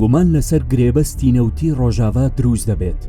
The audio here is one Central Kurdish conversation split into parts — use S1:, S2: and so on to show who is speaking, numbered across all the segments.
S1: گومان لەسەر گرێبەستی نەوتی ڕۆژاڤا دروست دەبێت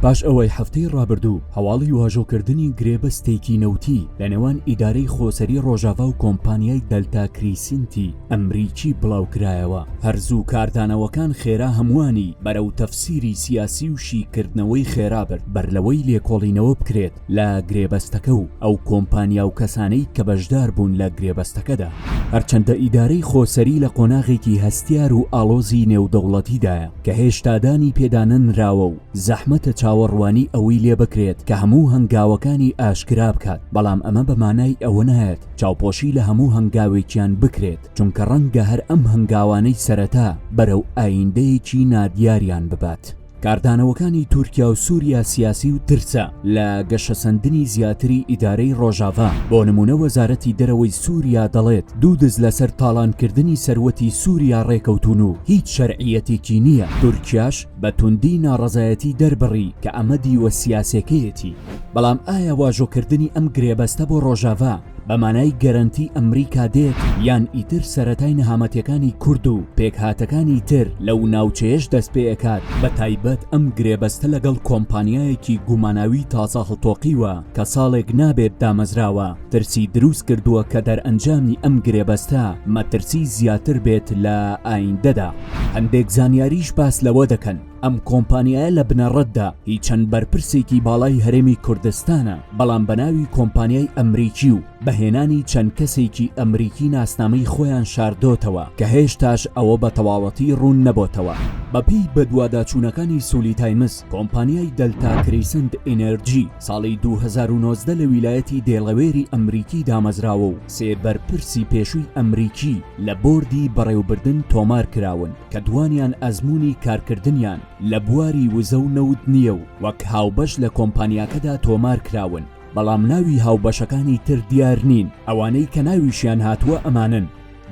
S1: پاش ئەوەی هەفتەی ڕابردوو هەواڵی واژۆکردنی گرێبەستێکی نەوتی لە نێوان ئیدارەی خۆسەری ڕۆژاڤا و کۆمپانیای دەلتا کریسینتی ئەمریکی بڵاوکرایەوە هەرزوو کاردانەوەکان خێرا هەمووانی بەرەو تەفسیری سیاسی و شیکردنەوەی خێرا برد بەر لەوەی لێکۆڵینەوە بکرێت لە گرێبەستەکە و ئەو کۆمپانیا و کەسانەی کە بەشدار بوون لە گرێبەستەکەدا. هەرچەندە ئیدارەی خۆسەری لە قۆناغێکی هەستیار و ئاڵۆزی نێودەوڵەتیدایە کە هێشتا دانی پێدانەنراوە و زەحمەتە چاوەڕوانی ئەوەی لێ بکرێت کە هەموو هەنگاوەکانی ئاشکرا بکات، بەڵام ئەمە بە مانای ئەوە نایەت چاوپۆشی لە هەموو هەنگاوێکیان بکرێت، چونکە ڕەنگە هەر ئەم هەنگاوانەی سەرەتا بەرەو ئایندەیەکی نادیاریان ببات. کاردانەوەکانی تورکیا و سوریا سیاسی و ترسە لە گەشەسەندنی زیاتری ئیدارەی ڕۆژاڤا بۆ نمونە وەزارەتی دەرەوەی سوریا دەڵێت دوو دز لەسەر تاڵانکردنی سەروەتی سوریا ڕێکەوتون و هیچ شەرعیەتێکی نییە تورکیاش بە توندی ناڕەزایەتی دەربڕی کە ئەمە دیوە سیاسێکەیەتی بەڵام ئایا واژۆکردنی ئەم گرێبەستە بۆ ڕۆژاڤا بە مانای گەرەنتی ئەمریکا دێت یان ئیتر سەرەتای نەهامەتیەکانی کورد و پێکهاتەکانی تر لەو ناوچەیەش دەست پێ ئەکات بە تایبەت ئەم گرێبەستە لەگەڵ کۆمپانیایەکی گوماناوی تازە هەڵتۆقیوە کە ساڵێک نابێت دامەزراوە ترسی دروست کردووە کە دەرئەنجامی ئەم گرێبەستە مەترسی زیاتر بێت لە ئایندەدا هەندێک زانیاریش باس لەوە دەکەن ئەم کۆمپانیایە لە بنەڕەتدا هی چەند بەرپرسێکی باڵای هەرێمی کوردستانە بەڵام بەناوی کۆمپانیای ئەمریکی و بەهێنانی چەند کەسێکی ئەمریکی ناسنامەی خۆیان شاردۆتەوە کە هێشتاش ئەوە بە تەواوەتی ڕوون نەبۆتەوە بەپی بەدواداچوونەکانی سولی تایمز کۆمپانیای دەلتا کریسند ئینەرجی ساڵی 2009 لە ویلایەتی دێڵەوێری ئەمریکی دامەزراوە و سێ بەرپرسی پێشووی ئەمریکی لە بۆردی بەڕێوبردن تۆمار کراون کە دووانیان ئەزموونی کارکردنیان لە بواری وزە و نەوت نییە و وەک هاوبەش لە کۆمپانیاکەدا تۆمار کراون، بەڵام ناوی هاوبەشەکانی تر دیار نین، ئەوانەی کە ناویشیان هاتووە ئەمانەن،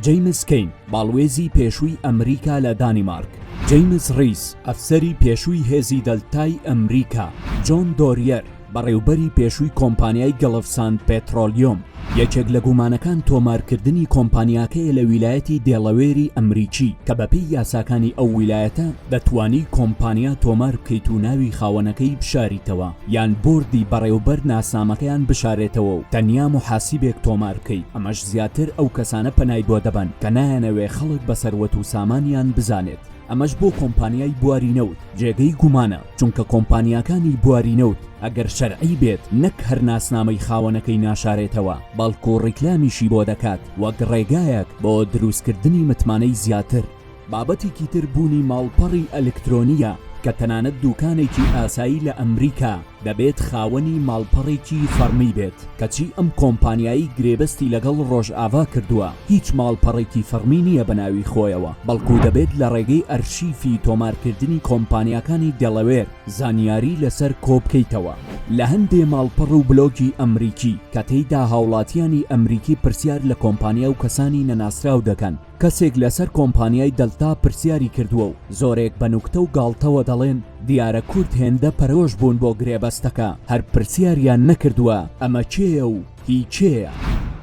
S1: جەیمس کەین، باڵوێزی پێشووی ئەمریکا لە دانیمارک، جەیمس ڕیس، ئەفسەری پێشووی هێزی دەلتای ئەمریکا، جۆن دۆریەر، بەڕێوبەری پێشووی کۆمپانیای گەڵف ساند پێترۆلیۆم، یەکێک لە گومانەکان تۆمارکردنی کۆمپانیاکەیە لە ویلایەتی دێڵەوێری ئەمریکی کە بەپێی یاساکانی ئەو ویلایەتە دەتوانی کۆمپانیا تۆمار بکەیت و ناوی خاوەنەکەی بشاریتەوە یان بۆردی بەڕێوبەر ناسنامەکەیان بشارێتەوە و تەنیا موحاسیبێک تۆمار بکەیت ئەمەش زیاتر ئەو کەسانە پەنای بۆ دەبەن کە نایانەوێ خەڵک بە سەروەت و سامانیان بزانێت. ئەمەش بۆ کۆمپانیای بواری نەوت جێگەی گومانە، چونکە کۆمپانیاکانی بواری نەوت ئەگەر شەرعی بێت نەک هەر ناسنامەی خاوەنەکەی ناشارێتەوە، بەڵکو ڕیکلامیشی بۆ دەکات وەک ڕێگایەک بۆ دروستکردنی متمانەی زیاتر. بابەتێکی تر بوونی ماڵپەڕی ئەلکترۆنییە کە تەنانەت دوکانێکی ئاسایی لە ئەمریکا، دەبێت خاوەنی ماڵپەڕێکی فەڕمی بێت، کەچی ئەم کۆمپانیایەی گرێبەستی لەگەڵ ڕۆژئاڤا کردووە، هیچ ماڵپەڕێکی فەڕمی نییە بە ناوی خۆیەوە، بەڵکو دەبێت لە ڕێگەی ئەرشیفی تۆمارکردنی کۆمپانیاکانی دێڵەوێر زانیاری لەسەر کۆبکەیتەوە لە هەندێ ماڵپەڕ و بلۆگی ئەمریکی، کە تێیدا هاوڵاتییانی ئەمریکی پرسیار لە کۆمپانیا و کەسانی نەناسراو دەکەن. کەسێک لەسەر کۆمپانیای دەلتا پرسیاری کردووە و زۆرێک بە نوکتە و گاڵتەوە دەڵێن دیارە کورد هێندە پەرۆش بوون بۆ گرێبەستەکە هەر پرسیاریان نەکردووە ئەمە کێیە و هی کێیە؟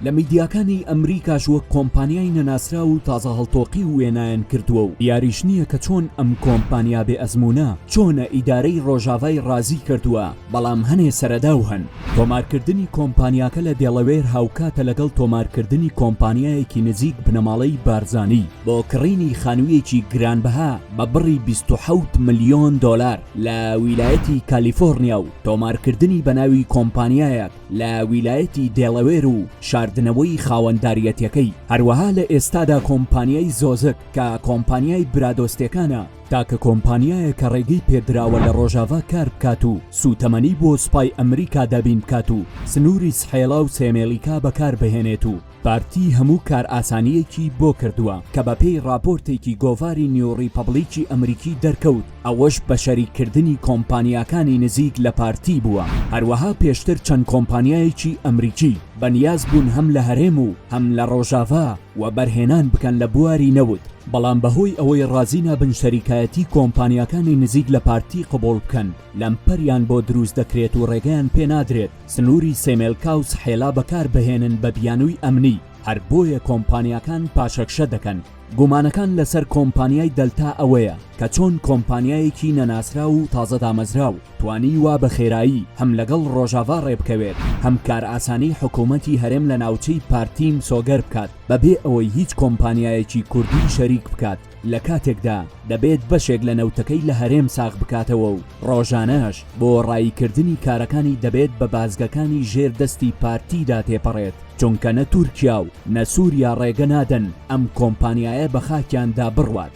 S1: لە میدیاکانی ئەمریکاش وەک کۆمپانیای نەناسراو و تازە هەڵتۆقیو وێنایان کردووە و دیاریش نییە کە چۆن ئەم کۆمپانیا بێ ئەزموونە چۆنە ئیدارەی ڕۆژاڤای ڕازی کردووە، بەڵام هەنێ سەرەداو هەن. تۆمارکردنی کۆمپانیاکە لە دێڵەوێر هاوکاتە لەگەڵ تۆمارکردنی کۆمپانیایەکی نزیک بنەماڵەی بارزانی بۆ کڕینی خانوویەکی گرانبەها بە بڕی بیست و حەوت ملیۆن دۆلار لە ویلایەتی کالیفۆڕنیا و تۆمارکردنی بە ناوی کۆمپانیایەک لە ویلایەتی دێڵەوێر و شاردنەوەی خاوەنداریەتیەکەی هەروەها لە ئێستادا کۆمپانیای زۆزک کە کۆمپانیای برادۆستەکانە تاکە کۆمپانیایە کە ڕێگەی پێدراوە لە ڕۆژاڤا کار بکات و سووتەمەنی بۆ سوپای ئەمریکا دابین بکات و سنووری سحێلا و سێمێلیکا بەکار بهێنێت و پارتی هەموو کارئاسانییەکی بۆ کردووە کە بەپێی ڕاپۆرتێکی گۆڤاری نیو ڕیپەبڵیکی ئەمریکی دەرکەوت ئەوەش بە شەریک کردنی کۆمپانیاکانی نزیک لە پارتی بووە هەروەها پێشتر چەند کۆمپانیایەکی ئەمریکی بە نیاز بوون هەم لە هەرێم و هەم لە ڕۆژاڤا وەبەرهێنان بکەن لە بواری نەوت، بەڵام بەهۆی ئەوەی ڕازی نابن شەریکایەتی کۆمپانیاکانی نزیک لە پارتی قبوڵ بکەن، لەمپەریان بۆ دروست دەکرێت و ڕێگەیان پێ نادرێت سنووری سێمێلکا و سحێلا بەکار بهێنن بە بیانووی ئەمنی، هەر بۆیە کۆمپانیاکان پاشەکشە دەکەن. گومانەکان لەسەر کۆمپانیای دەلتا ئەوەیە کە چۆن کۆمپانیایەکی نەناسراو و تازە دامەزراو، توانیوە بە خێرایی هەم لەگەڵ ڕۆژاڤا ڕێبکەوێت، هەم کارئاسانی حکوومەتی هەرێم لە ناوچەی پارتی مسۆگەر بکات، بەبێ ئەوەی هیچ کۆمپانیایەکی کوردی شەریک بکات، لە کاتێکدا دەبێت بەشێک لە نەوتەکەی لە هەرێم ساغ بکاتەوە و ڕۆژانەش بۆ ڕاییکردنی کارەکانی دەبێت بە بازگەکانی ژێر دەستی پارتیدا تێپەڕێت، چونکە نە تورکیا و نە سووریا ڕێگە نادەن ئەم کۆمپانیایە بە خاکیاندا بڕوات.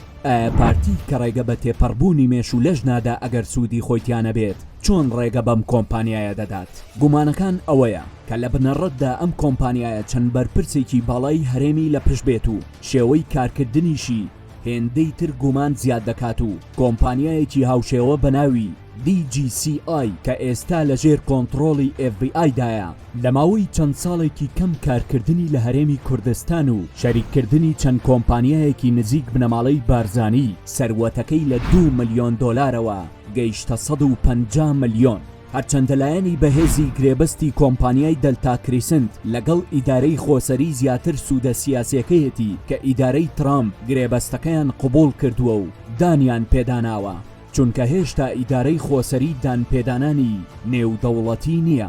S1: پارتی کە ڕێگە بە تێپەڕبوونی مێش و لەش نادا ئەگەر سوودی خۆی تیا نەبێت چۆن ڕێگە بەم کۆمپانیایە دەدات؟ گومانەکان ئەوەیە کە لە بنەڕەتدا ئەم کۆمپانیایە چەند بەرپرسێکی باڵای هەرێمی لە پشت بێت و شێوەی کارکردنیشی هێندەی تر گومان زیاد دەکات و کۆمپانیایەکی هاوشێوە بە ناوی، DGCI، کە ئێستا لەژێر کۆنتڕۆڵی FBI دایە. لە ماوەی چەند ساڵێکی کەم کارکردنی لە هەرێمی کوردستان و شەریککردنی چەند کۆمپانیایەکی نزیک بنەماڵەی بارزانی، سەروەتەکەی لە دوو ملیۆن دۆلارەوە گەیشتە سەد و پەنجا ملیۆن. هەرچەندە لایەنی بەهێزی گرێبەستی کۆمپانیای دەلتا کریسنت لەگەڵ ئیدارەی خۆسەری زیاتر سوودە سیاسییەکەیەتی کە ئیدارەی ترامپ گرێبەستەکەیان قبوڵ کردووە و دانیان پێداناوە، چونکە هێشتا ئیدارەی خۆسەری دانپێدانانی نێودەوڵەتی نییە.